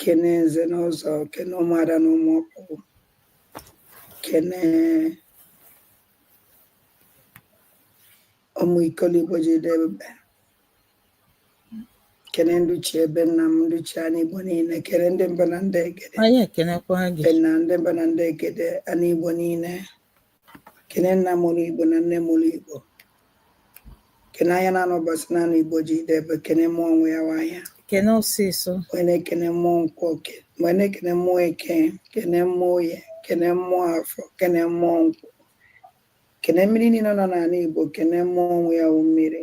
kene nze na ọzọ kene ụmụada na ụmụ ọkpụ kene ụmụ ikolo igbo ji debe kene ndị ichie be nna m ndị ichie ana igbo niile kene ndị mbụ na ndị egede be nna m ndị mbụ na ndị egede ana igbo niile kene nna mụrụ igbo na nne mụrụ igbo kene ahịa naanọ ụbọsị naanọ igbo ji debe kene mmụọ nwe ya wụ ahịa kene ọsịsọ wee na-ekene mmụọ nkwọ wee na-ekene mmụọ eke kene mmụọ oye kene mmụọ afọ kene mmụọ nkwọ kene mmiri niile nọ n'ala igbo kene mmụọ nwe ya wụ mmiri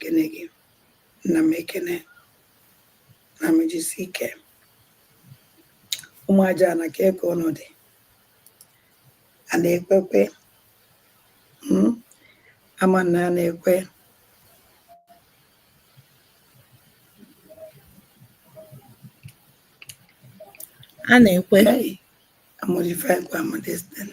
kene gị nna m ekene nna m jisie ike ụmụ aja na ka eke ọnọdụ a na-ekwe ekwe mm, ama na a na-ekwe a na-ekwe a modify kwa ama this thing.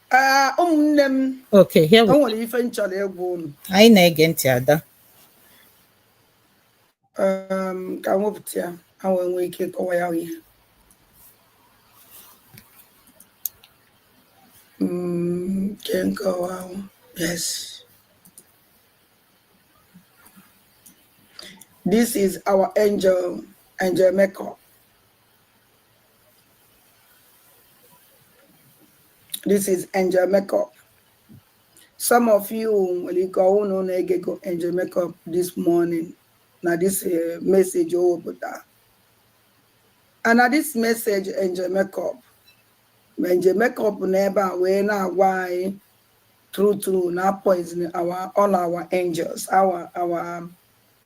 Ah, ụmụnne m Okay, here o nwere ife m chọrọ ịgwa unu Anyị na-ege ntị ada. um, ka m wepụta ya ha wee nwee ike ịkọwa ya ihe Mm, nke nkọwa ahụ yes this is our angel angel makeup this is angel makeup some of you nwere ike ọ wụ na unu egego angel makeup this morning na this eh, message o wepụta and na this message angel makeup ma angel makeup na-ebe wee na-agwa anyị true true na a poison our all our angels our our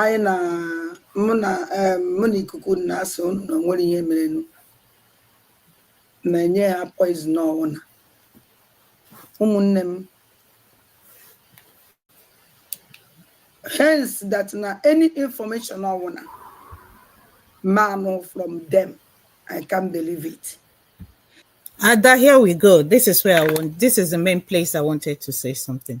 anyị na mụ na em, mụ na ikuku na-asị ụnụ na o nwere ihe merenụ na enye ha poison ọwụna ụmụnne m hence that na any information ọwụna m anụ from them I can't believe it Ada, here we go. This is where I want. This is the main place I wanted to say something.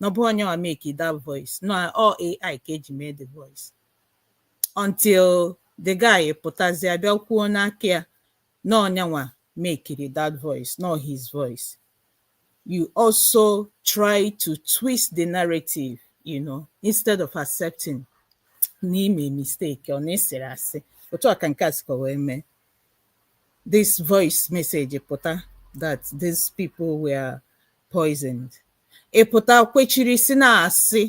na ọ bụ nya nwa mekiri that voice na ọ wụ AI ka e ji mee the voice until the guy pụtazie bịa kwuo n'aka ya na ọ nya nwa mekiri that voice na ọ his voice you also try to twist the narrative you know instead of accepting na i me mistake or na ị sịrị asị otu a ka nke a sikwa wee mee this voice message pụta that these people were poisoned ị pụta kwechiri si na-asị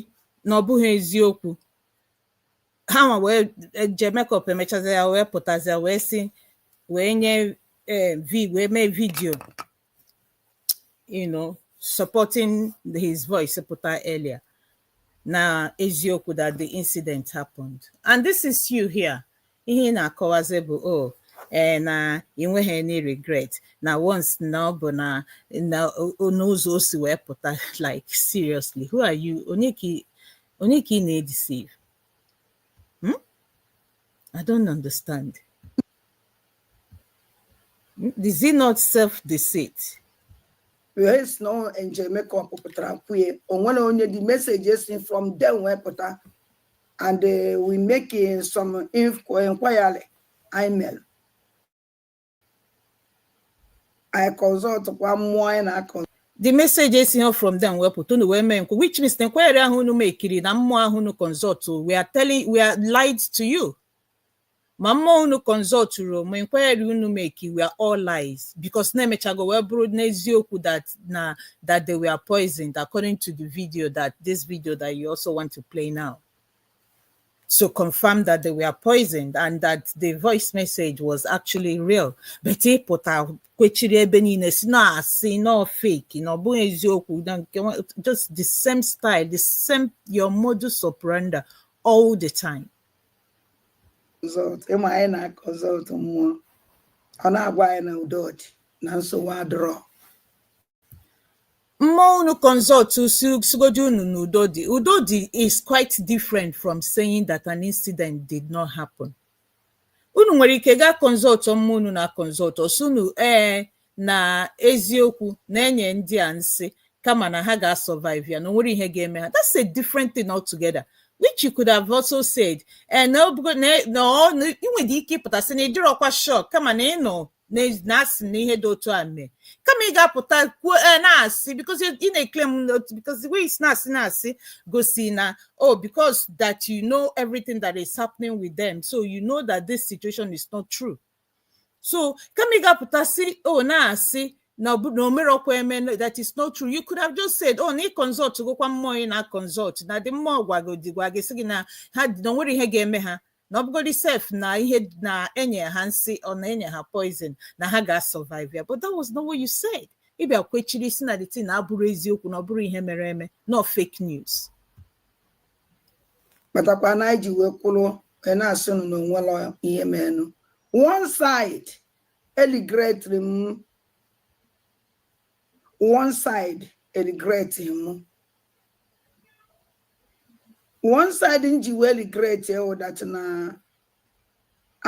na ọ bụghị eziokwu ha nwa wee je make up emechazi ya wee pụtazi ya wee si wee nye eh, vi wee mee video you know supporting his voice pụta earlier na eziokwu that the incident happened and this is you here ihe ị na-akọwazi bụ o oh, ee eh, na ị nweghị any regret na once na ọ bụ na n'ụzọ o si wee pụta like seriously who are you onye ka ị na-edeceive hmm? I don't understand Is it not self-deceit? Yes, no, and Jamaica pụtara kwue onwere onye the message si from them wee pụta and uh, wee make uh, some inquiry email. I consultkwa mmụọ anyị na-aconsult the message esighị from them wee pụta unu wee mee nkwa which means na inquiry ahụ unu mekiri na mmụọ ahụ unu consult were telling were lied to you ma mmụọ unu consultụrụ ma inquiry unu make were all lies because na emechago wee bụrụ n'eziokwu that na that they were poisoned according to the video that this video that you also want to play now so confirm that they were poisoned and that the voice message was actually real but ị pụta kwechiri ebe niile si na asị na ọ fake na ọ bụghị eziokwu na nke nwa- just the same style the same your modus operandi all the time sult mmụọ anyị na-aconsult mmụọ ọ na-agwa anyị na udo dị na nsogbu adịrọ mmụọ unu consult sịgodi unu na udo dị udo dị is quite different from saying that an incident did not happen unu nwere ike gaa consult mmụọ unu na-aconsult ọ sị unu ee na eziokwu na enye ndị a nsi kama na ha ga-asurvive ya na onwerọ ihe ga-eme ha that's a different thing altogether which you could have also said eh, na i nwere ike ịpụta sị na ị dịrọkwa sure kama na ị nụ na asị na ihe dị otu a mee kama ị ga-apụta kwuo eh, na-asị because ị na-eclaim because the way i si na-asị na-asị gosi na oh because that you know everything that is happening with them so you know that this situation is not true so kama ị ga-apụta sị o na-asị na ọ bụ na omerọkwa eme no, that is not true you could have just said oh na ị consultgokwa mmụọ ị na-aconsult na ndị mmụọ gwagodi gwa gị sị gị na ha na onwerọ ihe ga-eme ha na ọbụgodi sef na ihe na enye ha nsi ọ na enye ha poison na ha ga-asurvive ya but that was not what you said ị bịa kwechiri si na the thing na abụrọ eziokwu na ọ bụrọ ihe mere eme na ọ fake news kpatakwa na anyị ji wee kwụrụ wee na-asị unu na onwere ihe menụ one side e regretiri m one side e regretiri m one side m ji wee regretie wụ that na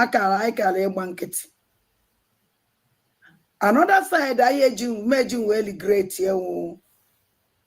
akara anyị kara ịgba nkịtị another side anyị eji m ji wee regretie wụ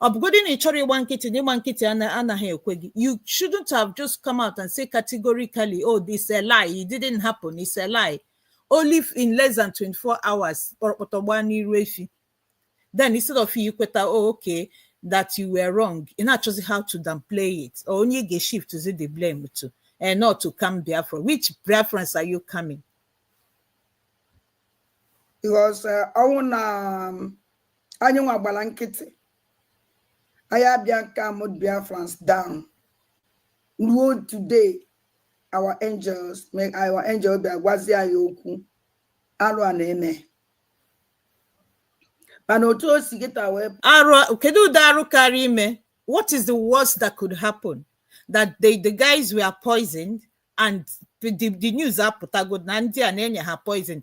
ọ bụgodị na ị chọrọ ịgba nkịtị na ịgba nkịtị ana- anaghị ekwe gị you shouldn't have just come out and say categorically oh this is a lie it didn't happen it's a lie only in less than 24 hours kpọrọkpọtọ gbaa n'iru efi then instead of you kweta oh okay that you were wrong ị na-achọzi how to downplay it or onye ị ga-shiftizi the blame to and not to calm Biafra which Biafrans are you calming because uh, ọ wụ na um, anyị nwa gbara nkịtị anyị abịa calmụọ Biafrans down ruo today our angels make our angel bịa gwazie anyị okwu arụ a na-eme mana otu o si gịta wee arụ kedu ụdị arụ karị ime what is the worst that could happen that they, the guys were poisoned and the, the news apụtago na ndị a na-enye ha poison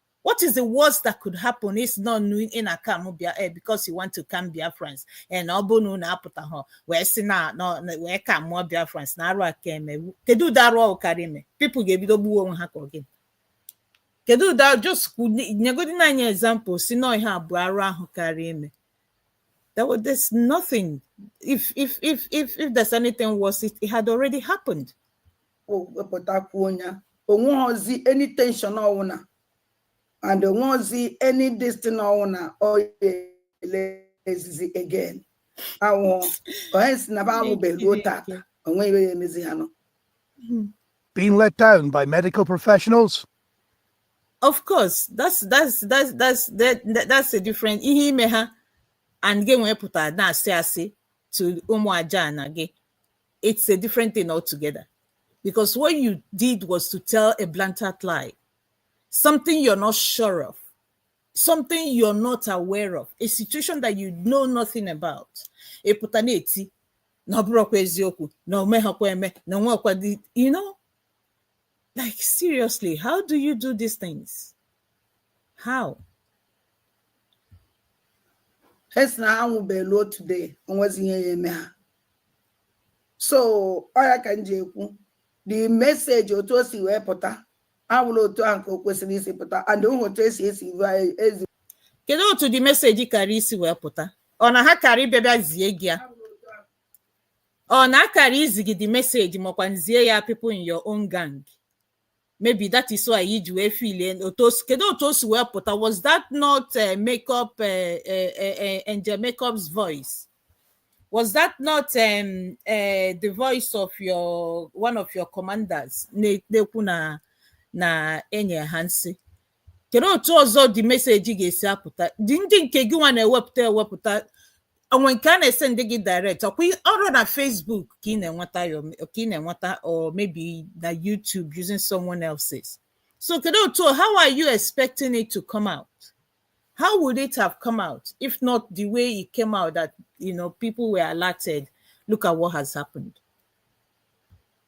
What is the worst that could happen ị sị na unu na-calm Bia- because you want to calm Biafrans and eh, ọ bụ na unu apụtahọ wee sị na wee calmụọ Biafrans na arụ aka eme kedu ụdị arụ karị ime people ga-ebido gbuo onwe ha ka ọ gịnị kedu ụdị just nyegodinụ anyị example sị na ọ ihe a bụ arụ ahụ karị ime there was there's nothing if if if if if there's anything worse it, it had already happened wepụta kwuo ya onweghọzi any tension ọwụna and onweghọzi any distin ọwụna ọ ya-eraisezi again awụ onye sị na ba anwụbe ruo tata onweghị ihe ya emezi ha nọ Being let down by medical professionals? of course that's that's that's that's that, that- that's a different ihe ime ha and gị ewee pụta na-asị asị to ụmụ aja na gị it's a different thing altogether. Because what you did was to tell a blatant lie, something you're not sure of, something you're not aware of, a situation that you know nothing about. Ị pụta na-eti, na ọ bụrọkwa eziokwu na o meghakwa eme na nwekwa di you know like seriously how do you do these things how e sị na ha anwụbeghị ruo today onwezi ihe ya eme ha so ọ ya ka m ji ekwu the message otu o si wee pụta abụrọ otu ahụ ka o kwesịrị isi pụta and ụhụ otu esi esi ezi kedu otu the message karị isi wee pụta ọ na ha karị bịa bịa zie gị ya ọ na ha karị izi gị the message ma ọ kwanụ zie ya people in your own gang maybe that is why i ji wee feelie otu o si kedu otu o si wee pụta was that not uh, makeup uh, uh, uh, angel makeup's voice was that not um, uh, the voice of your one of your commanders na-ekwu na na e nye ha nsị kedu otu ọzọ the message ga-esi apụta ndị ndị nke gị nwa na-ewepụta ewepụta o nwe nke a na-esendi gị direct ọ kwa ị- ọrọ na Facebook ka ị na-enweta ya ome- ka ị na-enweta or maybe na YouTube using someone else's so kedu otu how are you expecting it to come out how would it have come out if not the way it came out that you know people were alerted look at what has happened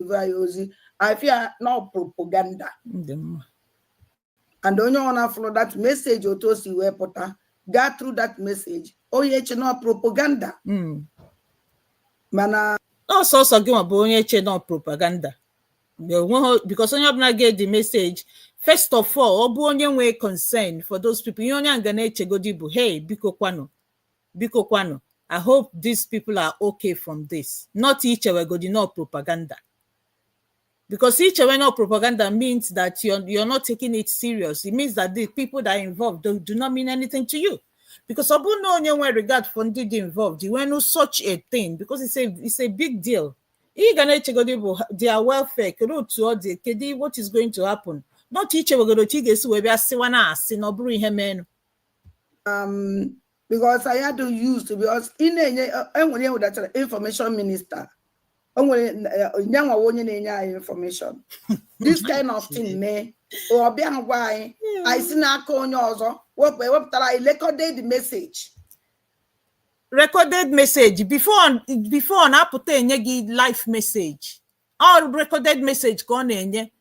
ọ ị feel na ọ propaganda and onye ọbụna fụrụ that message otu o si wee pụta gaa through that message onye eche na ọ propaganda hmm. mana ọ sọsọ gị nwa bụ onye eche na ọ propaganda because onye ọbụla ga the message first of all ọ bụ onye nwee concern for those people ihe onye a ga na-echegodi bụ hey biko kwanụ biko kwanụ i hope these people are okay from this not ichewegodi na ọ propaganda because ichewe na ọ propaganda means that you're, you're not taking it serious it means that the people that are involved do, do not mean anything to you because ọ bụrụ na onye nwere regard for ndị dị involved i wee nụ such a thing because it's a, it's a big deal ị ga na-echegodi bụ their welfare kedu otu ọ dị kedu what is going to happen not ichewegodi otu ị ga-esi wee bịa sịwa na asị na ọ bụrọ ihe meenụ um, because I had to use to because in enye enwere ihe wetara information minister o nwere nyanwa onye na-enye anyị information this kind of thing mee ọ bịa agwa anyị anyị si n'aka onye ọzọ wepụ ewepụtara anyị recorded message recorded message before before na-apụta enye gị live message ọ recorded message ka ọ na-enye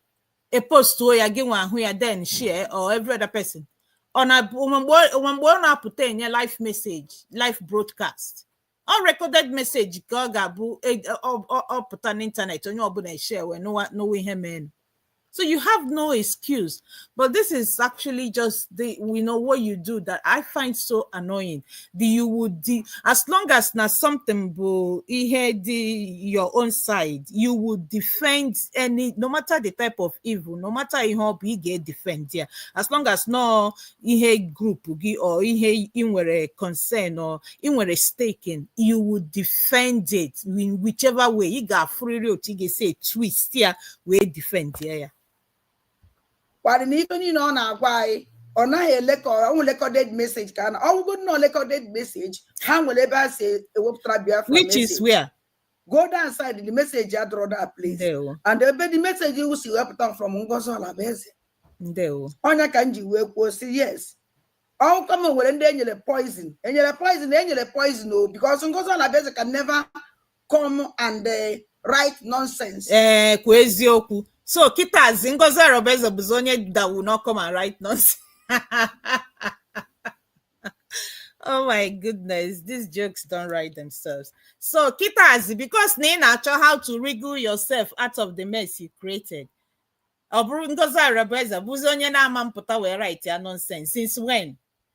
e postuo ya gị nwa ahụ ya then share or every other person ọ na o nwe mgbe ọ- o nwe mgbe ọ na-apụta enye live message live broadcast ọ recorded message ka ọ ga-abụ e- ọ- ọ- ọ pụta n'ịntanetị onye ọbụla eshare wee nụwa nụwa ihe meenụ so you have no excuse but this is actually just the you know what you do that i find so annoying the you would the, as long as na something bụ ihe dị your own side you would defend any no matter the type of evil no matter ihe ọ bụ ị ga-edefend ya as long as na ọ ihe group gị or ihe ị nwere concern or ị nwere stake in you would defend it in whichever way ị ga-afụrịrị otu ị ga-esi twist ya wee defend ya kwadị na ife niile ọ na-agwa anyị ọ naghị elekọrọ ọnwụ recorded message ka a na ọ wụgodi na recorded message ha nwere ebe a si ewepụtara biafra which is message. where go down side the message adịrọ that place ndewo and ebe the message iwu si wepụta m from Ngozi Orabueze ndewo ọ ya ka m ji wee kwuo si yes ọkwa m nwere ndị enyere poison enyere poison enyere poison o because Ngozi Orabueze can never come and uh, write nonsense. ee kwa eziokwu so kịtazi Ngozi Orabueze bụzi onye that will now come and write nonsense oh my goodness these jokes don't write themselves so kịtazi because na ị na-achọ how to wriggle yourself out of the mess you created ọ bụrụ Ngozi Orabueze bụzi onye na-amapụta wee write ya nonsense since when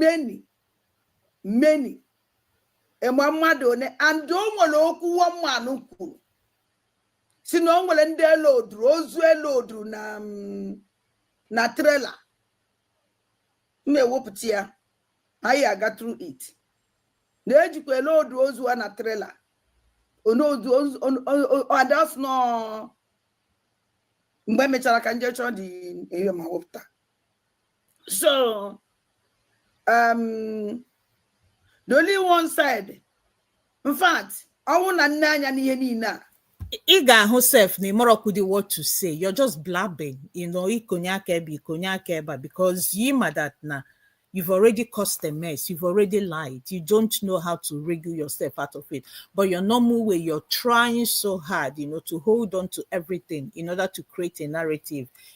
many many ịma mmadụ one and o nwere okwu woman kwuru si na o nwere ndị e loadụrụ ozu e loadụrụ na mm, na trailer m ewepụta ya anyị aga through it na ejikwa eload ozu a na trailer onodu adas nọ mgbe emechara ka m je chọọ dị ihe ma wepụta so um, the only one side in fact ọnwụ na nne anya n'ihe niile a ị ga-ahụ sef na ịmọrọkwudi what to say you're just blabbing you know ikonye aka ebe ikonye aka ebe because you ma that na you've already caused a mess you've already lied you don't know how to wriggle yourself out of it but your normal way you're trying so hard you know to hold on to everything in order to create a narrative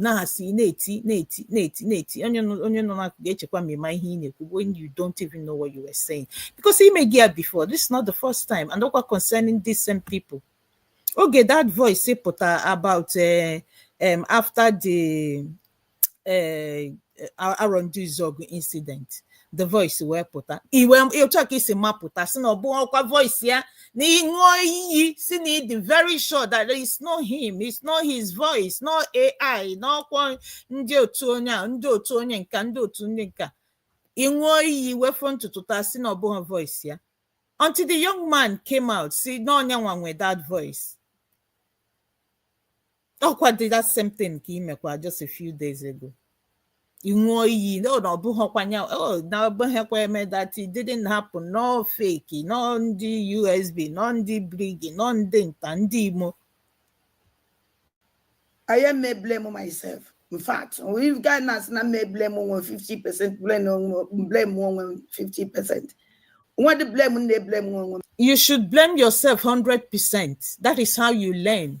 na-asị na-eti na-eti na-eti na-eti onye nọ onye nọ n'akụkụ ga-echekwa ma ị ma ihe ị na-ekwu when you don't even know what you were saying because i mego ya before this is not the first time and ọkwa concerning these same people oge that voice pụta about uh, um, after the uh, Arondizuogu incident the voice wee pụta iwe otu a ka i si mapụta si na ọ bụhọkwa voice ya na ị ṅụọ iyi si na ị dị very sure that it's not him it's not his voice na ọ AI n'ọkwa ndị otu onye a ndị otu onye nka ndị otu ndị nka ị ṅụọ iyi wee fọrọ ntutu taa si na ọ bụhọ voice ya until the young man came out si na ọ ya nwa nwe that voice ọkwadị that same thing ka i mekwa just a few days ago ị ṅụọ iyi na ọ bụhọkwa ya oh, na o mehọkwa eme that it didn't happen na ọ fake na ọ ndị USB na ọ ndị BRGIE na ọ ndị nta ndị imo I am may blame myself. In fact, ị wee gaa na-asị na m eblame onwe 50% blame onwe blame onwe 50%. What the blame na blame onwe. You should blame yourself 100%. That is how you learn.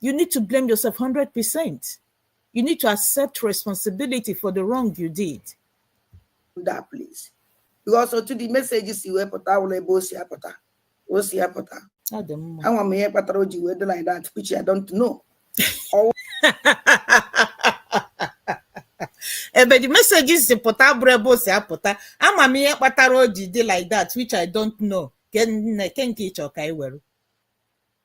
You need to blame yourself 100%. You need to accept responsibility for the wrong you did. Do that, please. Because ebe the messages si pụta abụrọ ebe o si apụta. Ama m ihe kpatara o ji dị like that, which I don't know. Oh. ebe the messages si pụta abụrọ ebe o si apụta ama m ihe kpatara o ji dị like that which I don't know ke nke ị chọ ka anyị were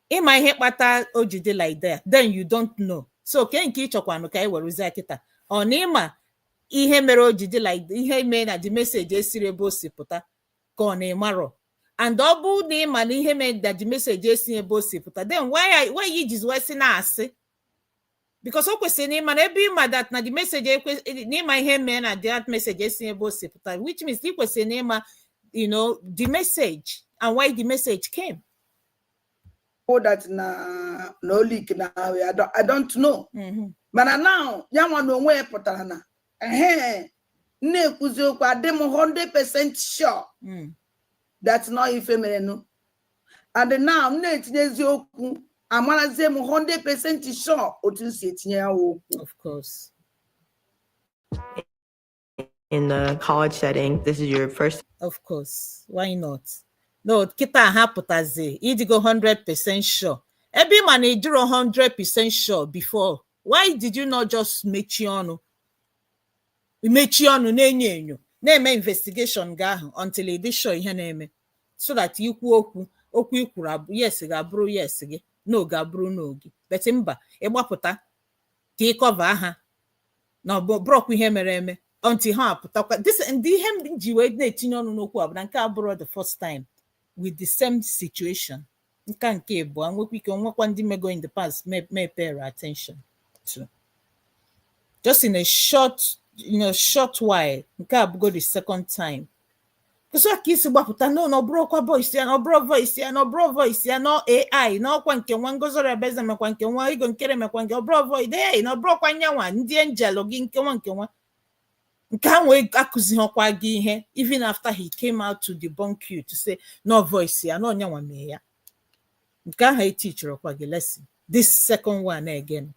ịma ihe kpata o ji dị like that then you don't know so ke nke ịchọkwanụ ka anyị werụzie kịta ọ na ịma ihe mere o ji dị like ihe mee na the message esirọ ebe o si apụta ka ọ na ịmarọ and ọ bụ na ịma na ihe mere na the message esirọ ebe o si apụta then why are- why you jizi wee sị na-asị because o kwesịrị na ịma na ebe ịma that na the message ekwe- na ịma ihe mee na that message esi ebe o si pụta which means ị kwesịrị na ịma you know the message and why the message came all that na na ọ leak na I don't, I don't know mm-hmm. mana now ya nwa na onwe ya pụtara na ehe m na-ekwuzi okwu adị m 100% sure mm. that na ọ bụ ife merenụ and now m na-etinyezi okwu amarazie m 100% sure otu m si etinye ya okwu of course in the college setting. This is your first. Of course, why not? No, kịta ha pụtazi ịdịgo 100% sure. Ebe ị ma na ịdịrọ 100% sure before. Why did you not just mechie ọnụ? Mechie ọnụ na-enyo enyo na-eme investigation gị ahụ until ị dị sure ihe na-eme so that ikwu okwu okwu ikwuru yes gị abụrụ yes gị no gị abụrụ no gị. But mba ịgbapụta ka ị cover ha na ọ bụrọkwa ihe mere eme until ha apụtakwa this ndị ihe m ji wee na-etinye ọnụ n'okwu a bụ na nke a abụrọ the first time with the same situation nka nke abụọ nwekwa ike nwekwa ndị mego in the past m, m epayrọ attention to just in a short in a short while nke a bụgo the second time so ka i si gbapụta no na ọ bụrọkwa voice ya na ọ bụrọ voice ya na ọ bụrọ voice ya na ọ AI na ọkwa nke nwa Ngozi Orebeze mekwa nke nwa Ego Nkere mekwa nke ọ bụrọ voice AI na ọ bụrọkwa nyanwa ndị angel gị nke nwa nke nwa nke anwa akuzihọkwa gị ihe even after he came out to debunk you to say na ọ voice ya na ọ nyanwa mee ya nke ahụ etichirọkwa gị lesson this second one again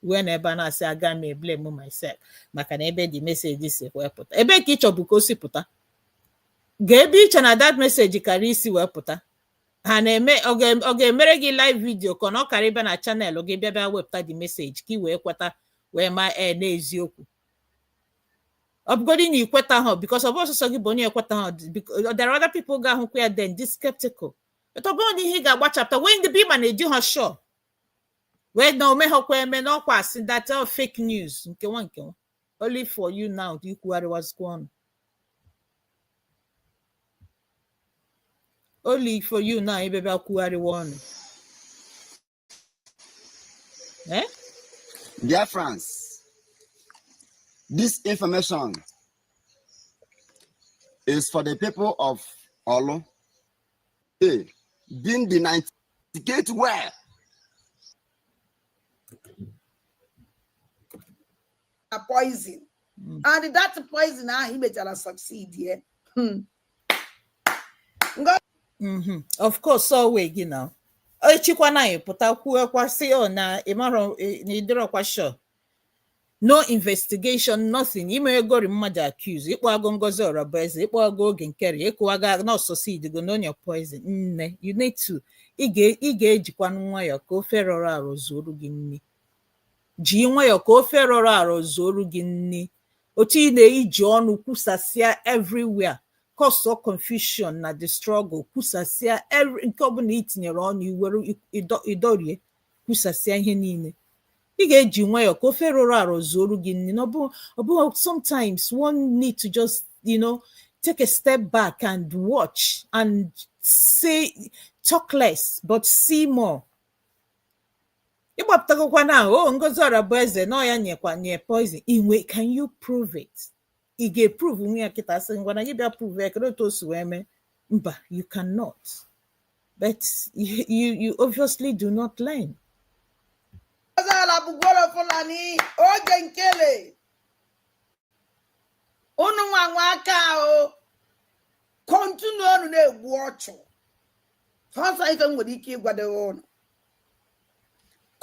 wee nọ ebe a na-asị aga m eblame myself maka na ebe the message si wee pụta ebee ka ị chọbụ ka o si pụta kee ebe i che na that message kara isi wee pụta ha na-eme ọ ga- ọ ga-emere gị live video ka ọ na ọ kara ịbịa na channel gị bịa bịa wepụta the message ka ị wee kweta wee ma ee n'eziokwu ọ bụgodị na ikwetaha because ọ bụrọ sọọsọ gị bụ onye ekwetaha there are other people ga-ahụkwa ya then dị skeptical but ọ bụrọ na ihe ị ga-agbachapụta wee ndị ebe ị ma na ị dịha sure wee na o meghọkwa eme n'ọkwa asị that all fake news nkewa nkewa only for you now to ikwugharịwazikwa ọnụ only for you now ebe bịa kwugharịwa ọnụ eh? Dear friends, this information is for the people of Orlu. Hey, being the 98 where? A poison. Hmm. And that poison now he made a succeed, yeah. Hmm. Mm-hmm. Of course, so we, you know. echikwana anyị pụta kwuokwa sị ọ na ịmarọ na ịdịrọkwa sure no investigation nothing imeegori mmadụ accuse ịkpọago Ngozi Orabueze ịkpọago Oge Nkere ikwuwago na ọ succeedigo na o nye poison nne you need to ị ga- ị ga-ejikwanụ nwayọọ ka ofe rọrọ arọ zuoru gị nni ji nwayọọ ka ofe rọrọ arọ zuoru gị nni otu ị na-eji ọnụ kwusasịa everywhere cause confusion na the struggle kwusasịa every- nke ọbụla itinyere ọnụ iwere ịdọ- ịdọrie kwusasịa ihe niile ị ga-eji nwayọọ ka ofe rọrọ arọ zuoru gị nni na ọ bụ ọ bụ sometimes one need to just you know take a step back and watch and say talk less but see more ịgbapụtagokwa na ọ Ngozi Orabueze na ọ ya nyekwa nye poison inwe can you prove it ị ga-eprovenwu ya kịta sị ngwa na gị bịa prove ya kedu otu o si wee mee mba you cannot but you, you, you obviously do not learn ọzọala bụgoro Fulani Oge Nkele unu nwa nwe aka ahụ kọntinụọnụ na-egbu ọchụ sọsọ ife m nwere ike ịgwadowe ụnụ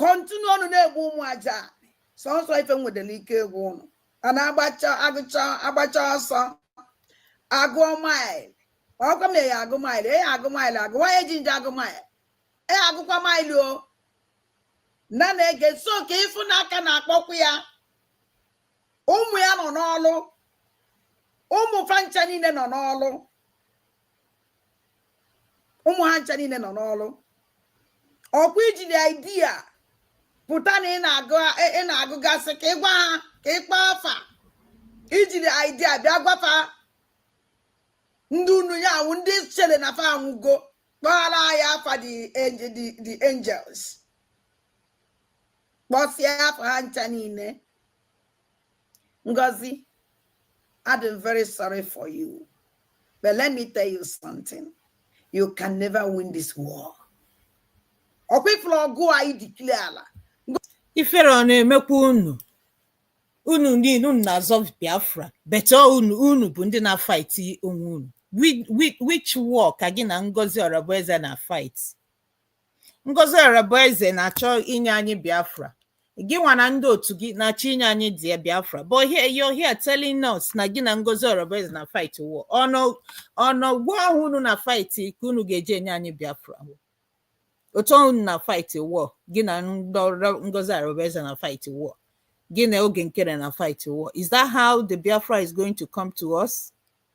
kọntinụọnụ na-egbu ụmụ aja sọsọ ife m nwedere ike ịgwa ụnụ a na-agbacha agụcha agbacha ọsọ agụọ maịl ọkwa m ya agụ maịl e ya agụ maịl agụwa eji nje agụ maịl e agụkwa maịl o na na-ege so ka ịfụ na a ka na-akpọkwa ya ụmụ ya nọ n'ọlụ ụmụ fa ncha niile nọ n'ọlụ ụmụ ha ncha niile nọ n'ọrụ ọkwa ijiri idea pụta na ị na-agụgasị ka ịgwa ha ka ịkpọ afa ijiri idea bịa gwafa ndị unu ya-anwụ ndị chere na fa anwụgo kpọghara ya afa the angels kpọsịa afa ha ncha niile Ngozi, I'm very sorry for you. But let me tell you something. You can never win this war. ọkwa ọgụ anyị declarela ifere ọ na-emekwa unu unu niile unu na-azọ biafra but ọ unu bụ ndị na-afight onwe unu which war ka gị na Ngozi Orabueze na-afight Ngozi Orabueze na-achọ inye anyị Biafra. Gị nwa na ndị otu gị na-achọ inye anyị the Biafra. But here, you're here telling us na gị na Ngozi Orabueze na fight war. Ọ n'ọgụ ahụ unu na fight ka unu ga-eji enye anyị Biafra. Otu unu na fight war. Gị na Ngozi Orabueze na fight war. Gị na Oge Nkere na fight war. Is that how the Biafra is going to come to us?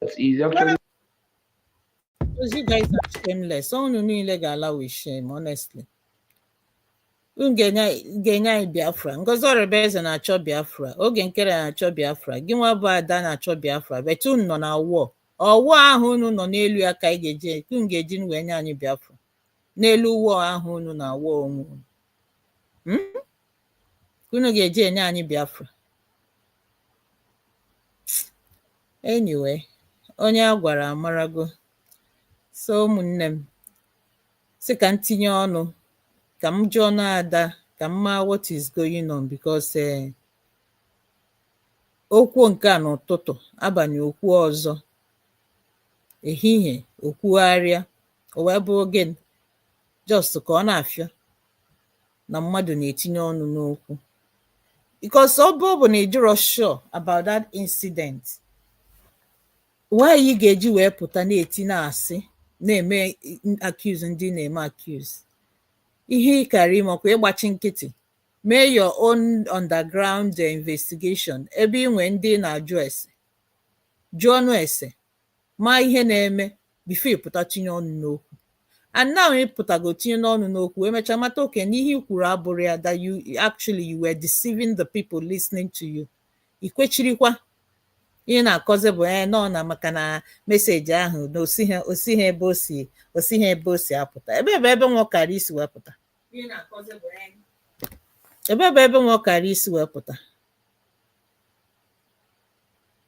That's easy. I'll try. Because you guys are shameless. Unu niile ga-ala with shame, honestly. Ga-enye anyị Biafra. Ngozi Orabueze na-achọ Biafra. Oge Nkere na-achọ Biafra. Gị nwa bụ Ada na-achọ Biafra. But unu nọ na war. Ọ war ahụ unu nọ n'elu ya ka anyị ga-eji unu ga-eji nu wee nye anyị Biafra. N'elu war ahụ unu na war onwe unu. Hmm? ka unu ga-eji enye anyị Biafra anyway onye a gwara amarago so ụmụnne m sị ka m tinye ọnụ ka m jụọnụ Ada ka m maa what is going on because eh, o kwuo nke a n'ụtụtụ abalị o kwuo ọzọ ehihie o kwugharịa o wee bụrụ gịnị just ka ọ na-afịọ na mmadụ na-etinye ọnụ n'okwu because ọ bụ ọ bụ na ị dịrọ sure about that incident why ị ga-eji wee pụta na-eti na-asị na-eme accuse ndị ị na-eme accuse ihe ị kara ime ọkwa ịgbachi nkịtị mee your own underground investigation ebe ị nwee ndị ị na-ajụ ese jụọnụ ese maa ihe na-eme before ị pụta tinye ọnụ n'okwu and now ị pụtago tinye n'ọnụ n'okwu wee mechaa mata okay na ihe i kwuru abụrọ ya that actually you were deceiving the people listening to you i kwechirikwa ihe ị na-akọzi bụ ee nọ na maka na message ahụ na o si ebe o si apụta ebe ebe ebe nwa ọkara isi wee pụta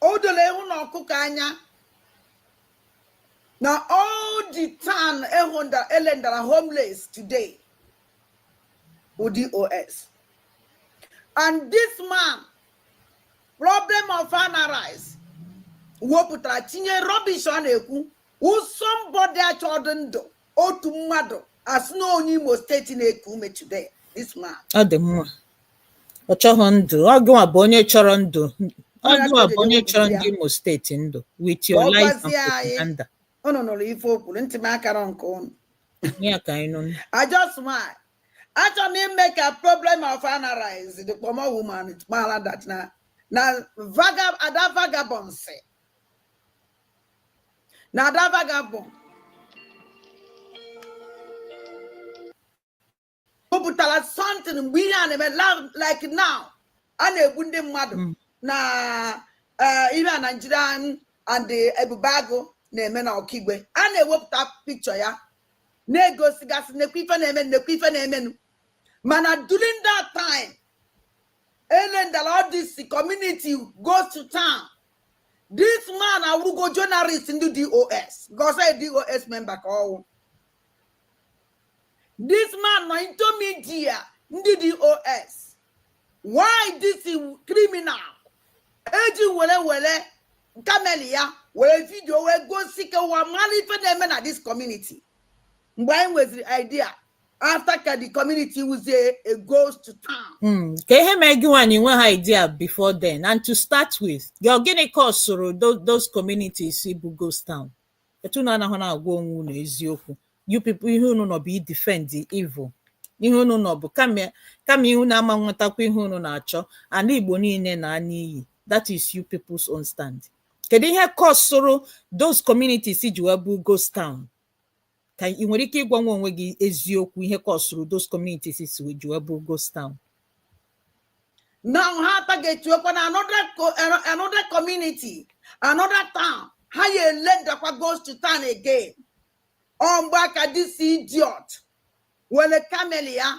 o doro ewu na ọkụkọ anya na all the town e rendara homeless today bụ DOS and this man problem of analyze wepụtara tinye rubbish ọ na-ekwu somebody achọdụ ndụ otu mmadụ asị na onye imo steeti na-eku ume today this man ọ dị mma ọ chọghị ndụ ọ gịnwa bụ onye chọrọ ndụ ọ gịnwa bụ onye chọrọ ndị imo steeti ndụ with your Ọ lies and gwazie anyị. propaganda ụnụ nụrụ ife o kwuru ntị m akara nke ụnụ Ihe a ka anyị nụ I just smile. Achọ m ime ka problem of analyze the pomo woman mara that na na vagab ada vagabond sị na ada vagabond wepụtara something mgbe ihe a na-eme like now a na-egbu ndị mmadụ hmm. na eh, ihe a Naijiria and Ebube Agụ na-eme na Ọkigwe a na-ewepụta picture ya na-egosigasị nekwa ife na-emenụ nekwa ife na-emenụ mana during that time erendala all this community ghost town this man awụrụgo journalist ndị DOS cause DOS member ka ọ wụ this man nọ into media ndị DOS why this criminal eji were were camera ya were video wee gosi ka ụwa mara ife na-eme na this community mgbe anyị nweziri idea after ka the community wụzie a ghost town Hmm, ka ihe mee gịnwa i nweha idea before then and to start with gị ọ gịnị kọsụrụ tho- those communities ịbụ ghost town etu unu anaghị na-agwa onwe unu eziokwu you people ihe unu nọ bụ i defend the evil ihe unu nọ bụ kama kama ihe unu ama nwetakwa ihe unu na-achọ ala igbo niile naa n'iyi that is you people's own stand kedu ihe kọsụrụ those communities ji wee bụ ghost town ka ị nwere ike ịgwanwu onwe gị eziokwu ihe kọsụrụ those communities si wee ji wee bụ ghost town now ha atargetuokwana another co- ano- another community another town ha ya-erendakwa ghost town again ọ mgbe a ka this idiot were camera ya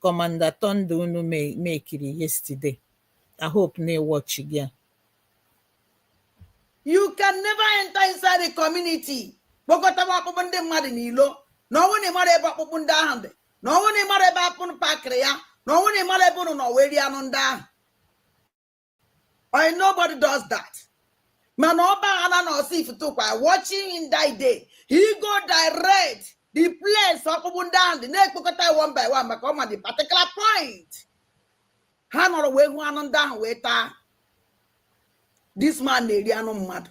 Commander Thunder unu mekiri yesterday. I hope na ị watch ya. You can never enter inside the community. Kpọkọtaba ọkpụkpụ ndị mmadụ n'ilo na ọ wụ na ị mara ebe ọkpụkpụ ndị ahụ dị na ọ wụ na ị mara ebe a kpọ- pakịrị ya na ọ wụ na ị mara ebe unu nọ wee rie anụ ndị ahụ Eh nobody does that. mana ọ baana na Ọsụ Ihiteukwa watchịnụ that day he go direct the place ọkpụkpụ ndị ahụ dị na-ekpokọta one by one maka ọ ma the particular point ha nọrọ wee hụ anụ ndị ahụ wee taa this man na-eri anụ mmadụ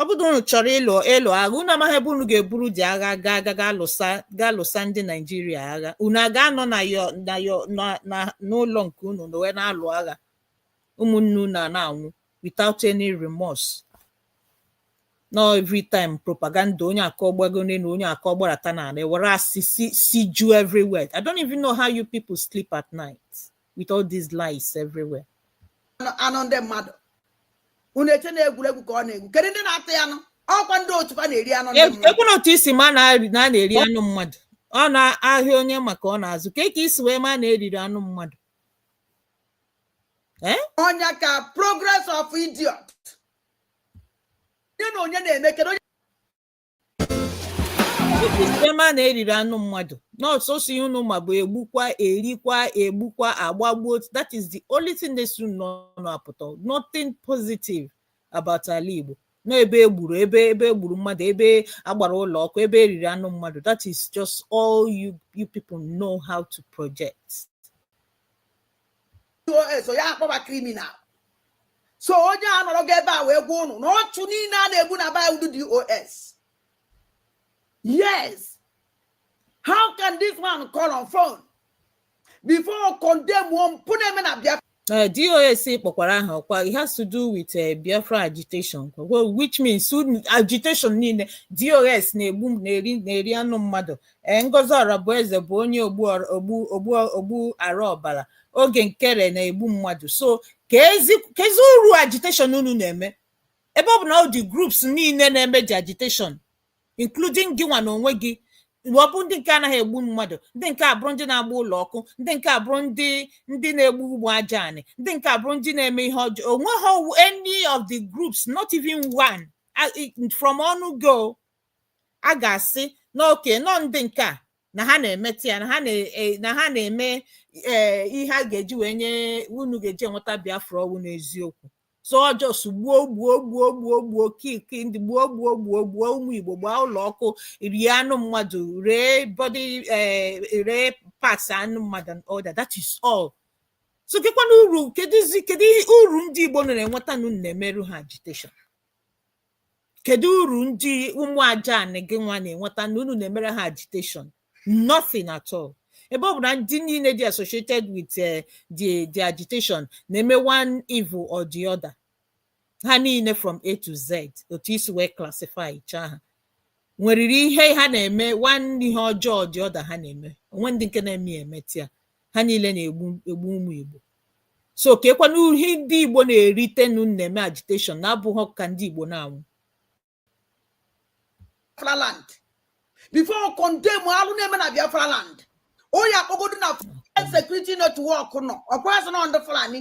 ọ bụrụ na unu chọrọ ịlụ ịlụ agha unu amaghị ebe unu ga-eburu the agha gaa ga ga lụsa ga lụsa ndị naijiria agha unu aga anọ na yo na yo na na n'ụlọ nke unu nọ wee na-alụ agha ụmụnne unu a na-anwụ without any remorse no every time propaganda onye akọ gbago n'elu onye akọ gbarata n'ala ewere asị si si ju everywhere i don't even know how you people sleep at night with all these lies everywhere anụ ndị mmadụ unu eche na egwuregwu ka ọ na-egwu kedu ndị na-atụ ya anụ ọkwa ndị otu fa na-eri anụ ndị mmadụ ekwena otu i si ma na a na-eri anụ mmadụ ọ n'ahịa onye maka ọ na-azụ ka ka i si wee ma na eriri anụ mmadụ eh? onye ka progress of idiot onye na onye na-eme kedu onye si ma na eriri anụ mmadụ na ọ sọsọ ihe unu ma bụ egbukwa erikwa egbukwa agbagbuo that is the only thing na-esi unu n'ọnụ apụta nothing positive about ala Igbo na ebe egburu ebe ebe egburu mmadụ ebe agbara ụlọ ọkụ ebe eriri anụ mmadụ that is just all you you people know how to project so ya akpọba criminal so onye a nọrọ gị ebe a wee gwa unu na ọchụ niile a na-egbu n'eba ọ ndị DOS yes how can this man call on phone before condemnụọ mpụ na-eme na biafra Uh, DOS kpọkwara aha ọkwa it has to do with uh, Biafra agitation well, which means agitation niile DOS na-egbu na-eri na-eri anụ mmadụ ee Ngozi Orabueze bụ onye ogbu ọra- ogbu ogbu ogbu ara ọbara Oge Nkere na-egbu mmadụ so kezi kezi uru agitation unu na-eme ebe ọ bụ na all the groups niile na-eme the agitation including gị nwa na onwe gị ọ bụ ndị nke anaghị egbu mmadụ ndị nke abụrụ ndị na-agba ụlọ ọkụ ndị nke abụrụ ndị ndị na-egbu ụmụ aja anị ndị nke abụrụ ndị na-eme ihe ọjọọ onweghị any of the groups not even one I- I- from ọnụ gị a ga-asị na okay na ọ ndị nke a na ha na-emeta ya na ha na- e- na ha na-eme ee ihe a ga-eji wee nye unu ga-eji enweta biafra ọ wụ n'eziokwu so ọ just gbuo gbuo gbuo gbuo gbuo kill kill ndị gbuo gbuo gbuo gbuo ụmụ igbo gbaa ụlọ ọkụ rie anụ mmadụ ree body eh, ree parts anụ mmadụ and all that that is all so kekwana uru keduzi kedu ihe uru ndị igbo nọ na-enweta na unu na-emere ha agitation kedu uru ndị ụmụ aja anị gị nwa na-enweta na unu na-emere ha agitation nothing at all ebe ọ bụ na ndị niile dị associated with eh, the the agitation na-eme one evil or the other ha niile from a to z otu i si wee classifychaa ha nweriri ihe ha na-eme one ihe ọjọọ or the other ha na-eme o nwe ndị nke na-eme ya emeta ya ha niile na-egbu egbu ụmụ igbo so kekwana ihe ndị igbo na-eritenu na-eme agitation na-abụghị ka ndị igbo na-anwụ biafra land before condemn alụ na-eme na biafra land onye akpọgodo na security network nọ ọkwa a sị na ndị fulani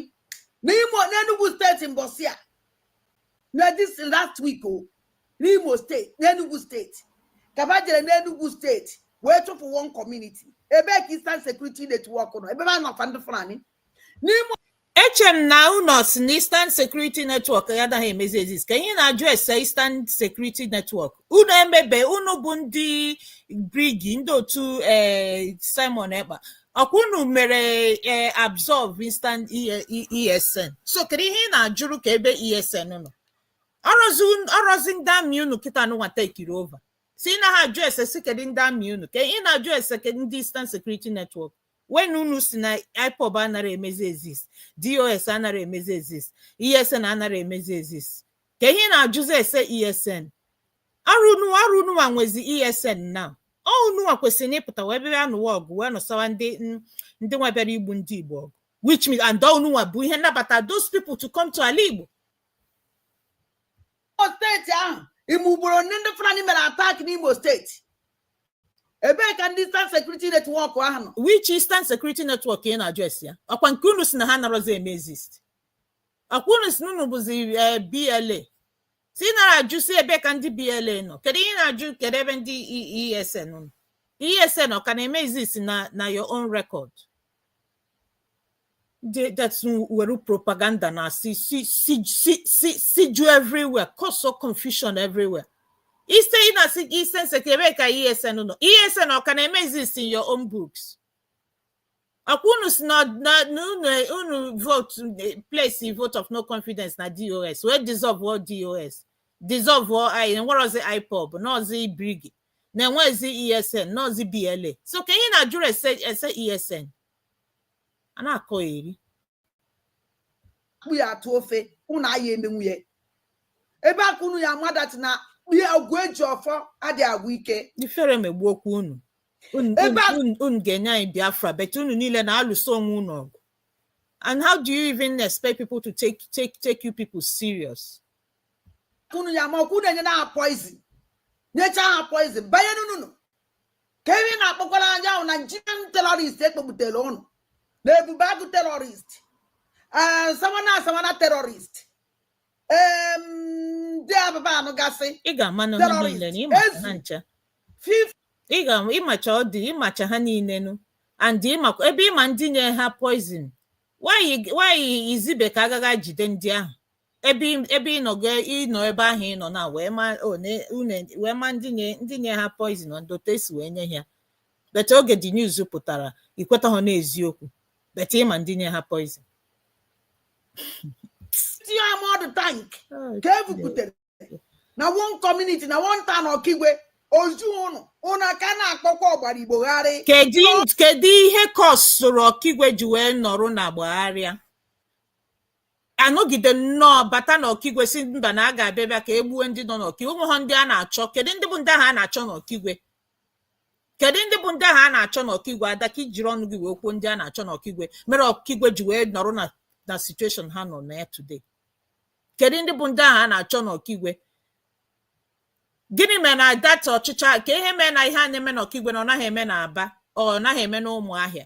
n'ime n'enugwu steeti mbọsị a na this last week o oh, n'Imo steeti n'Enugu steeti ka ba jere n'Enugu steeti wee chụpụ one community ebee ka Eastern Security Network nọ ebe a nọfa ndị Fulani n'Imo eche m na unu si na Eastern Security Network ya adaghị emezi exist ka ihe na-ajụ ese Eastern Security Network unu emebe unu bụ ndị BRGIE ndị otu eh, Simon Ekpa ọkwa unu mere eh, absorb eastern esn so kedu ihe ị na-ajụrụ ka ebe esn nọ ọrọzi un- ọrọzi ndị army unu kịta na unu nwa takeiri over si ị naghị ajụ ese si kedu ndị army unu ka ị na-ajụ ese kedu ndị eastern security network when unu si na ipob anara emezi exist dos anara emezi exist esn anara emezi exist ka ihe ị na-ajụzi ese esn ọrọ unu ọrọ unu nwa nwezi esn na unu nwa kwesịrị na ịpụta wee bịa anụwa ọgụ wee nụsawa ndị n- ndị nwa bịara igbu ndị igbo ọgụ which means and unu nwa bụ ihe nabata those people to come to ala igbo Imo steeti ahụ ime ugboro ndị ndị Fulani mere attack n'Imo steeti ebee ka ndị Eastern Security Network ahụ nọ which eastern security network ị na-ajụ ese ya ọkwa nke unu si na ha narọzi eme exist ọkwa unu si na unu bụzi eh, bla si ị nara ajụ si ebe ka ndị BLA nọ kedu ihe ị na-ajụ kedu ebe ndị ESN nọ ESN ọ ka na-eme exist na na your own record They- that's were propaganda na si siju everywhere causeọ confusion everywhere ise ị na-asị gị Eastern Sec- ebe ka ESN nọ ESN ọ ka na-eme exist in your own books ọkwa unu si na na- na unu unu vote eh, place vote of no confidence na dos wee dissolveọ dos dissolveọ anyị enwerozi ipob nọọzi brgie na enwezi esn nọọzi bla so ka ihe na-ajụrụ ese ese esn a na-akọ eri akpụ ya atụ ofe unu aya emenwu ya ebe a ka unu ya ama that na kpie ọgwụ eji ọfọ adị agwụ ike ifere megbuokwa unu Unu- Ebe a- unu- unu ga-enye anyị biafra but unu niile na-alụso onwe unu ọgụ and how do you even expect people to take take take you people serious unu ya ma ọkụ na-enye ha poison nyecha ha poison banye n'unu ka ebe ị na-akpọkwara anya ahụ Nigerian terrorist ekpobutere ụnụ na ebube agụ terrorist eh, sawana asawana terrorist ndị ababa anụ gasị ị ga-ama na ha niile na ịmacha ha ncha ị ga-ịmacha ọ dị ịmacha ha niile nụ and ịmakwa ebe ịma ndị nye ha poison why izibe ka a gaa ga jide ndị ahụ ebe ị- ebe ị nọ ga ịnọ ebe ahụ ị nọ na wee ma o, ne- une- wee ma ndị nye ndị nye ha poison and otu esi wee nye ha but oge dị news pụtara ikwetaha n'eziokwu but ịma ndị nye ha poison tinye armoured tank ka e buputere na one community na one town ọkigwe ozu ụnụ ụnụ aka na-akpọkwa ọgbara igbo gharị kedu kedu ihe kọsụrụ ọkigwe ji wee nọrọ na gbagharịa anọgide nnọọ bata n'ọkigwe sị mba na a ga-abịa bịa ka e gbuo ndị nọ n'ọkigwe ụmụ ha ndị a na-achọ kedu ndị bụ ndị ahụ a na-achọ n'ọkigwe kedu ndị bụ ndị ahụ a na-achọ n'ọkigwe ada ka ijiri ọnụ gị wee kwuo ndị a na-achọ n'ọkigwe mere ọkigwe ji wee nọrọ na na situation ha nọ na ya today kedu ndị bụ ndị ahụ a na-achọ n'ọkigwe gịnị mere na data ọchịcha kee ihe mere na ihe a na-eme n'ọkigwe na ọ naghị eme na Aba ọ naghị eme na Ụmụahịa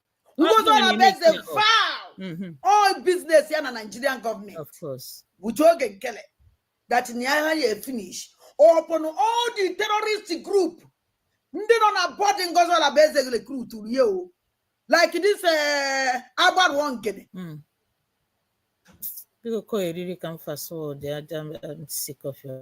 Ngozi Ọlabụeze fa all business ya na Nigerian government which Oge Nkele that na ya ya finish upon all the terrorist group ndị nọ na board Ngozi Ọlabụeze recruit rie o like this eh, agbaruo nkene hmm. biko kọ eriri ka m fast forward ya I'm sick of your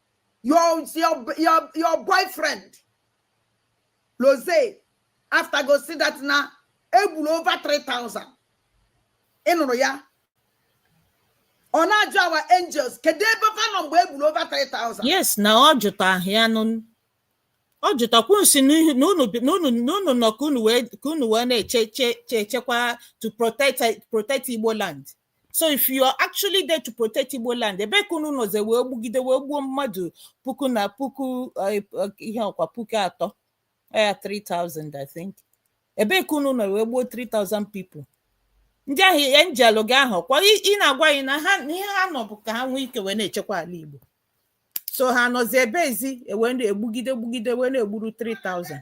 your your your your boyfriend loze after gosi that na egburu over 3000 ị nụrụ ya ọ na-ajụ our angels kedu ebe fa nọ mgbe egburu over 3000 yes na ọ jụta ahịa nụ ọ jụtakwu nsi n'ihi na unu bi- na unu na unu nọ ka unu wee ka unu wee na-eche che che echekwa to protect protect igbo land so if you are actually there to protect igbo land ebe ka unu nọzi wee gbugide wee gbuo mmadụ puku na puku eh, eh, ihe ọkwa puku atọ ya 3000 i think ebe ka unu nọ wee gbuo 3000 people ndị ahụ angel gị ahụ kwa ị ị na-agwa anyị na ha na ihe ha nọ bụ ka ha nwee ike wee na-echekwa ala igbo so ha nọzi ebeezi e wee na-egbugide gbugide wee na-egburu 3000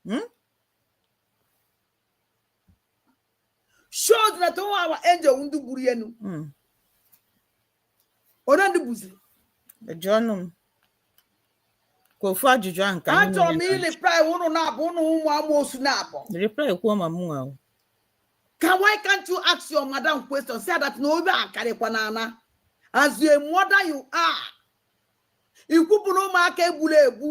Hmm? shows that our angel ndị gburu enu hmm. onye ndị buziri jụọnụ m ka ofu ajụjụ ahụ ka achọrọ m i reply ụnụ na-abụ ụnụ ụmụ amoosu na-abụ reply kwuo ma mụ ahụ ka why can't you ask your madam question say that na obe akarịkwa na ana as a mother you are ikwupụ na ụmụaka egburu egbu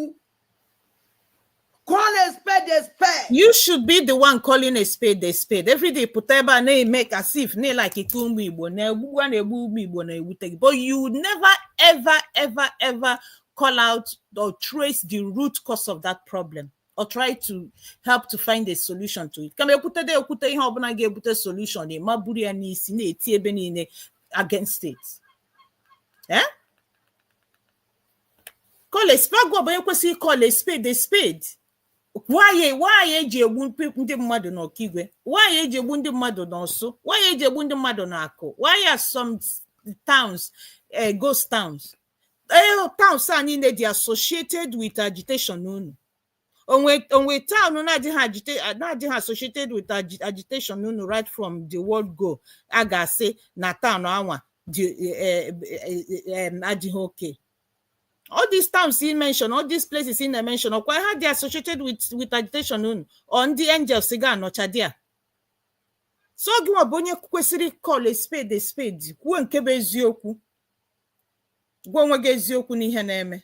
call a spade a spade you should be the one calling a spade a spade every day pụta ebe a na-eme ka as if na ị like ụmụ igbo na egbugbu a na-egbu ụmụ igbo na-ewute gị but you never ever ever ever call out or trace the root cause of that problem or try to help to find a solution to it kama ekwute da ekwute ihe ọbụla ga-ebute solution ị ma buru ya n'isi na-eti ebe niile against it eh? call a spade gị nwa bụ onye kwesịrị call a spade a spade why why eji egbu mpe- ndị mmadụ n'okigwe why eji egbu ndị mmadụ n'ọsụ why eji egbu ndị mmadụ n'akụ why are some towns eh, ghost towns Eh, towns a niile dị associated with agitation unu o nwe o nwe town na-adịghị agite na-adịghị associated with agi- agitation unu right from the word go a ga-asị na town anwa dị eh, eh, eh, em, adịghị okay all these towns ị mention all these places ị na-emention ọkwa ha dị associated with with agitation unu ọ ndị angels ga-anọcha there so gị nwa bụ onye kwesịrị call a spade a spade kwuo nke bụ eziokwu gwa onwe gị eziokwu n'ihe na-eme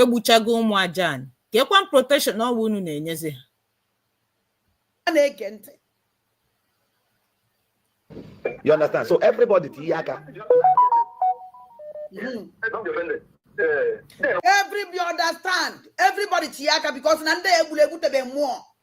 egbuchago ụmụ aja anyị kekwanụ protection ọnwa unu na-enyezi ha a na-ege ntị You understand? So everybody tinye aka. Mm. Everybody understand. Everybody tinye aka because na ndị egburu egbu tebe mmụọ.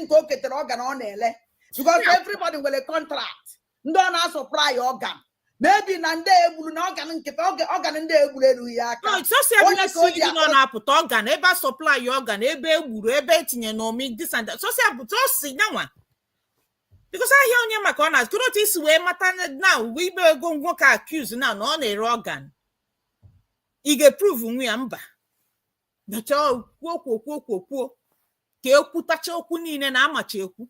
nke o ketere organ ọ na-ele because everybody nwere contract ndị ọ na-asupply ya organ maybe na ndị egburu na organ nkịta organ ndị egburu elu ya aka na-apụta organ ebe a supply organ ebe egburu ebe etinye na omi this and that sosia bụta osi nyanwa because ahịa onye ma ka ọ na-azụ otu i si wee mata na uwe ibe ego nwoke accuse na na ọ na-ere organ ị ga-eprove nwu ya mba kwuo kwuo kwuo kwuo kwuo ka ekwutacha okwu niile na amacha ekwu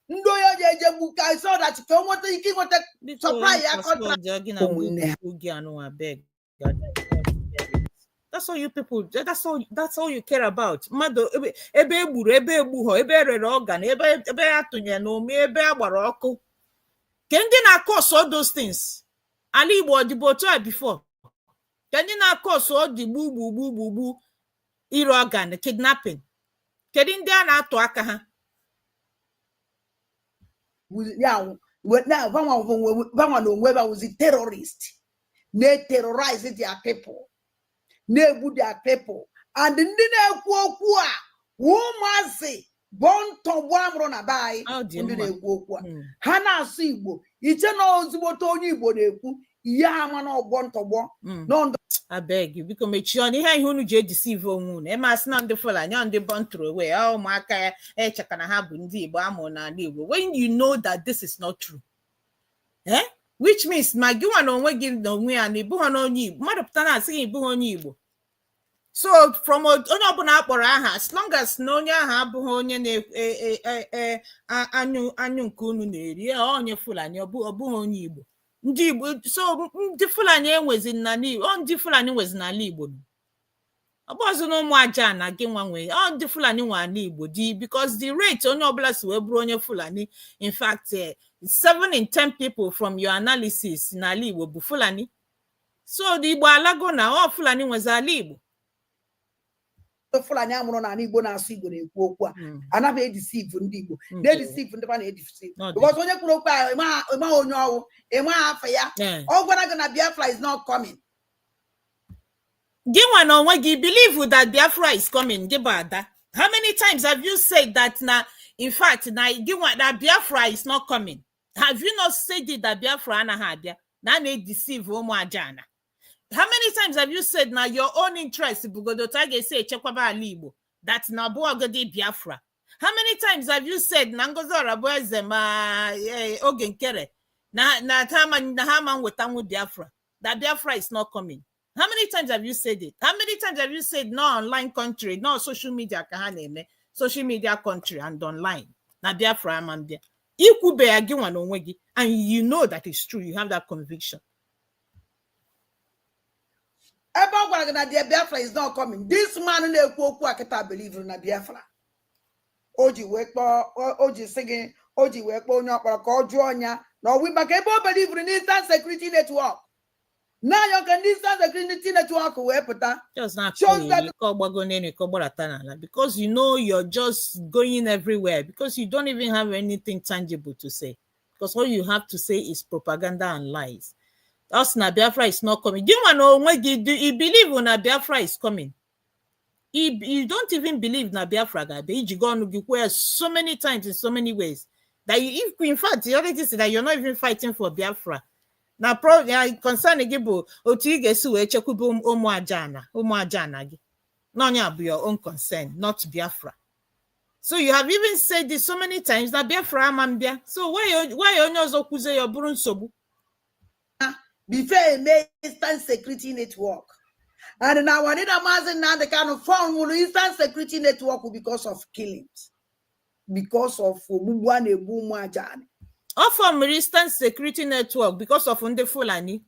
ndị onye ji eje gbu ka so that ka o nweta ike ịnweta supply ya contract that's all you people that's all that's all you care about mmadụ ebe egburu ebe egbughọ ebe erere organ ebe ebe a tụnyere na omi ebe a gbara ọkụ ke ndị na-acause all those things ala igbo ọ dịbu otu a before ke ndị na-acause all the gbugbu gbugbu gbugbu ire organ kidnapping kedu ndị a na-atụ aka ha banwa na onwe ba wụzi terrorist na-eterrorize their people na-egbu their people and ndị na-ekwu okwu a ụmụazị born tọgbọ amụrụ na be anyị ndị na-ekwu okwu a Mm. ha na-asụ igbo iche na ozugbote onye igbo na-ekwu ihe ha ma na ọ born tọgbọ Mm. no no I beg you biko mechie ọnụ ihe a ihe unu ji edeceive onwe unu eme asị na ndị fulani ọ ndị born throway ọ ụmụaka ya echeka na ha bụ ndị igbo amụrụ n'ala igbo when you know that this is not true eh? which means ma gị nwa na onwe gị na onwe ya na ịbụghị na onye igbo mmadụ pụta na-asị gị ịbụghị onye igbo so from onye ọbụla akpọrọ aha as long as na onye ahụ abụghị onye na-anyụ e, e, e, anyụ nke unu na-eri ọ onye fulani ọ bụghị onye igbo ndị igbo so ndị fulani enwezi n'ala igbo ndị fulani nwezi n'ala igbo ọbụọzi na ụmụ aja ana gị nwa nwe ọ ndị fulani nwe ala igbo di because the rate onye ọbụla si wee bụrụ onye fulani in fact eh, seven in ten people from your analysis n'ala igbo bụ fulani so na igbo alago na ọ fulani nwezi ala igbo fulani amụrụ n'ala igbo na-asụ igbo na-ekwu okwu a hmm. anaghị edeceive ndị igbo hmm. na-edeceive ndị ba na-edeceive because onye kwuru okwu ahụ ịmaghị onye ọwụ ịmaghị afa ya eh. ọ gwara gị na biafra is not coming gị nwa na onwe gị believe that biafra is coming gị bụ ada how many times have you said that na in fact na gị nwa na biafra is not coming have you not said it that biafra anaghị abịa na a na-edeceive ụmụ aja ana how many times have you said na your own interest bụgodo otu a ga-esi echekwaba ala igbo that na ọbụọgodi biafra how many times have you said na ngozi ọrabụeze ma eh, oge nkere na na ha ma na ha ma nwetanwu biafra that biafra is not coming how many times have you said it how many times have you said no online country no social media ka ha na-eme social media country and online na biafra ama mbịa ikwube ya gị nwa na onwe gị and you know that is true you have that conviction ebe ọ gwara gị na the biafra is not coming this man na-ekwu okwu a kịta belivuru na biafra o ji wee kpọọ o- o ji sị gị o ji wee kpọọ onye ọ kpọrọ ka ọ jụọ nya na ọwụ maka ebe o belivuru n'Eastern Security Network na-ayọ ka ndị nsọ azụ ekiri ndị tinetụ ọkụ wee pụta Just not Shows cool. that- You call Bagone and you call Bolatanala because you know you're just going everywhere because you don't even have anything tangible to say. Because all you have to say is propaganda and lies. Us na Biafra is not coming. Do you want to know when you do you believe when Biafra is coming? If you don't even believe na Biafra ga-abịa i jigo ọnụ gị kwuo ya so many times in so many ways that you, if, in fact you already said that you're not even fighting for Biafra na pro na concern gị bụ otu ị ga-esi wee chekwube ụm- ụmụ aja ana ụmụ aja ana gị na ọ nya bụ your own concern not Biafra so you have even said this so many times na Biafra ama mbịa so why why onye ọzọ kwuzie ya ọ bụrụ nsogbu before e mee eastern security network and na our leader Mazi Nnamdi Kanu fọmụrụ eastern security network because of killings because of ogbugbu a na-egbu ụmụ ajani ọ fọmụrụ eastern security network because of ndị fulani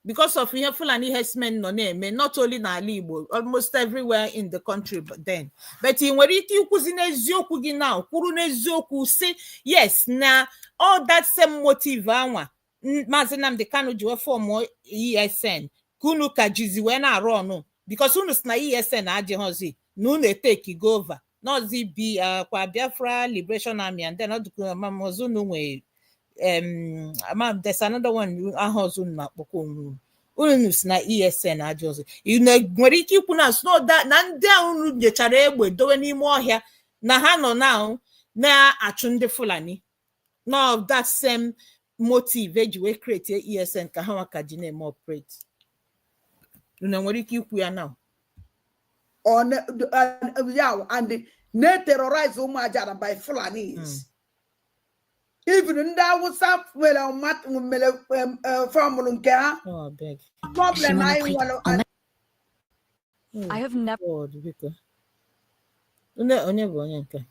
because of ihe fulani herdsmen nọ na-eme not only n'ala igbo almost everywhere in the country but then but ị nwere ike ikwuzi n'eziokwu gị now kwuru n'eziokwu sị yes na ọ that same motive anwa N- maazị Nnamdi Kanu ji wee fọmụ ESN ka unu ka jizi wee na-arụ ọrụ because unu sị na ESN adịghọzi na unu etakego over na ọzị bi ah, kwa Biafra Liberation Army and then ọdụkụmamọzọ unu nwee em, ama m, there's another one aha ọzọ unu na-akpọkwa onwe unu unu sị na ESN adịghọzi unu nwere ike ikwu now sị na ọ da- na ndị a unu nyechara egbe dowe n'ime ọhịa na ha nọ now na-achụ ndị Fulani na ọ that same motive eji wee create esn ka ha nwa ka ji na-eme operate unu nwere ike ikwu ya now ọ na- d- a- ya wụ, and the- na-eterrorize ụmụ ajara by fulanis even ndị awụsa nwere ọma- nwere em, eh, fọmụlụ nke ha ọ big problem anyị nwere Oh, I have never. God, biko. Une onye bụ onye nke a?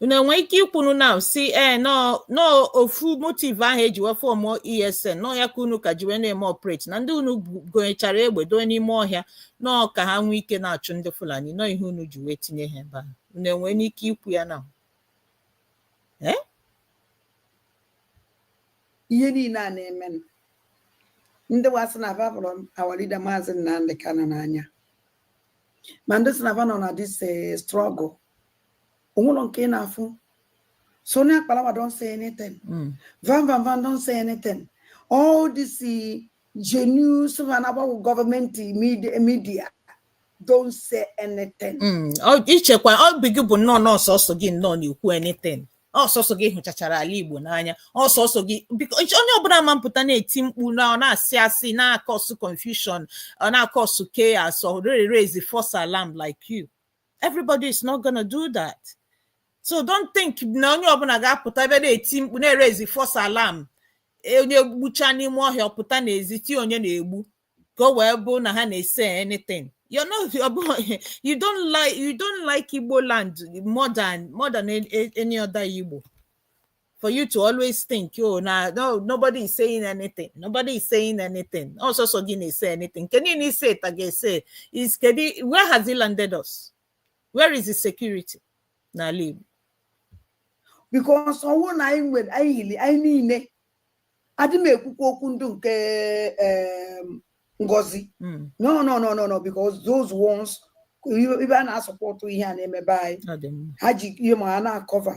unu enwe ike ikwunu now sị ee na ọ na ọ ofu motive ahụ eji wee fọmụọ esn na ọ ya ka unu ka ji wee na-eme operate na ndị unu bu- gonyechara egbe doe n'ime ọhịa na ọ ka ha nwee ike na-achụ ndị fulani na ọ ihe unu ji wee tinye ha ebe ahụ unu enwe n'ike ikwu ya now ihe niile a na-emenụ ndị wa sị na va fụrụ our leader maazị Nnamdi Kanu n'anya ma ndị sị na va nọ na this eh, struggle o nwelọ nke ị na-afụ Sunny Akparawa don't say anything mm. Van Van Van don't say anything all this eh, genuine Savannah government media, media don't say anything. Mm. Oh, i chekwa ọ bụ gị bụ nnọọ na ọ sọsọ gị nnọọ na-ekwu anything. ọ sọsọ gị hụchachara ala igbo n'anya ọ sọsọ gị biko onye ọbụla ama apụta na-eti mkpu na ọ na-asị asị na-akọsụ confusion ọ na-akọsụ chaos na-erezi false alarm like you everybody is not gonna do that so don't think na onye ọbụla ga-apụta ebe na-eti mkpu na-erezi false alarm onye gbucha n'ime ọhịa ọ pụta n'ezi tie onye na-egbu ka o wee bụ na ha na-ese anything you're not ọ bụghị you don't like you don't like igbo land more than more than a- a- any other igbo for you to always think oh na no nobody is saying anything nobody is saying anything ọ sọsọ gị na-ese anything nke niile i se ta ga-ese is kedu where has it landed us where is the security n'ala igbo because ọ wụ na anyị nwere anyị yiri anyị niile adị m ekwukwa okwu ndị nke Ngozi hmm. no no no no no because those ones ibe a na-asọpọtụ ihe a na-eme be anyị ha ji ihe ma ha na-akọva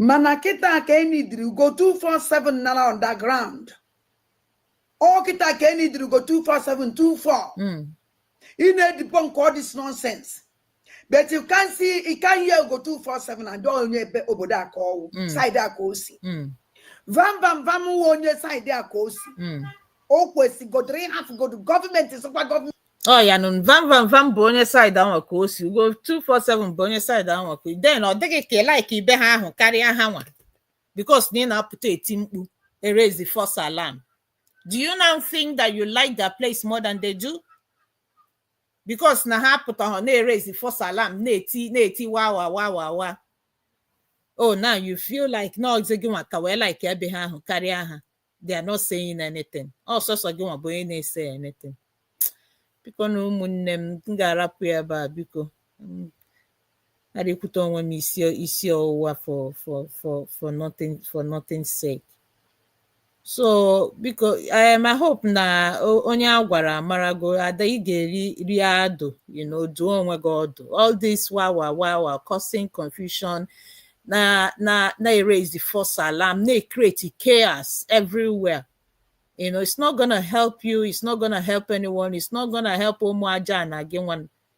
mana kịta ka e nidiri Ugo 247 n'ala underground ọ kịta ka e nidiri Ugo 247 24 ị na-edebunk all this nonsense but you can see you can hear Ugo 247 and onye ebe obodo a ka ọwụ Mm. side a ka o si Mm. vam vam vam wụ onye side a ka o si Mm. o kwesịgodoro ịhafụgodo gọọmenti sịkwa gọọmenti ọ ya nụ vam vam vam bụ onye side ahụ ka o si Ugo 247 bụ onye side ahụ ka then ọ dịghị ka ị like ebe ha ahụ karịa ha nwa because na ị na-apụta eti mkpu eraise the false alarm do you now think that you like their place more than they do because na ha pụtahụ na-eraise false alarm na-eti na-eti wa wa wa wa wa oh now you feel like na ọ zị gị nwa ka wee like ebe ha ahụ karịa ha they are not saying anything ọ sọsọ gị nwa bụ onye na-esay anything bikonụ ụmụnne m m ga-arapụ ya ebe a biko Mm. I dey put on when isi isi ọwụwa for for for for nothing for nothing sake. So biko um, I hope na o- onye a gwara amarago ada ị ga-eri rie adụ you know duo onwe gị ọdụ all this wawa wawa causing confusion na na na erase the false alarm na create chaos everywhere you know it's not gonna help you it's not gonna help anyone it's not gonna help ụmụ aja na gị nwa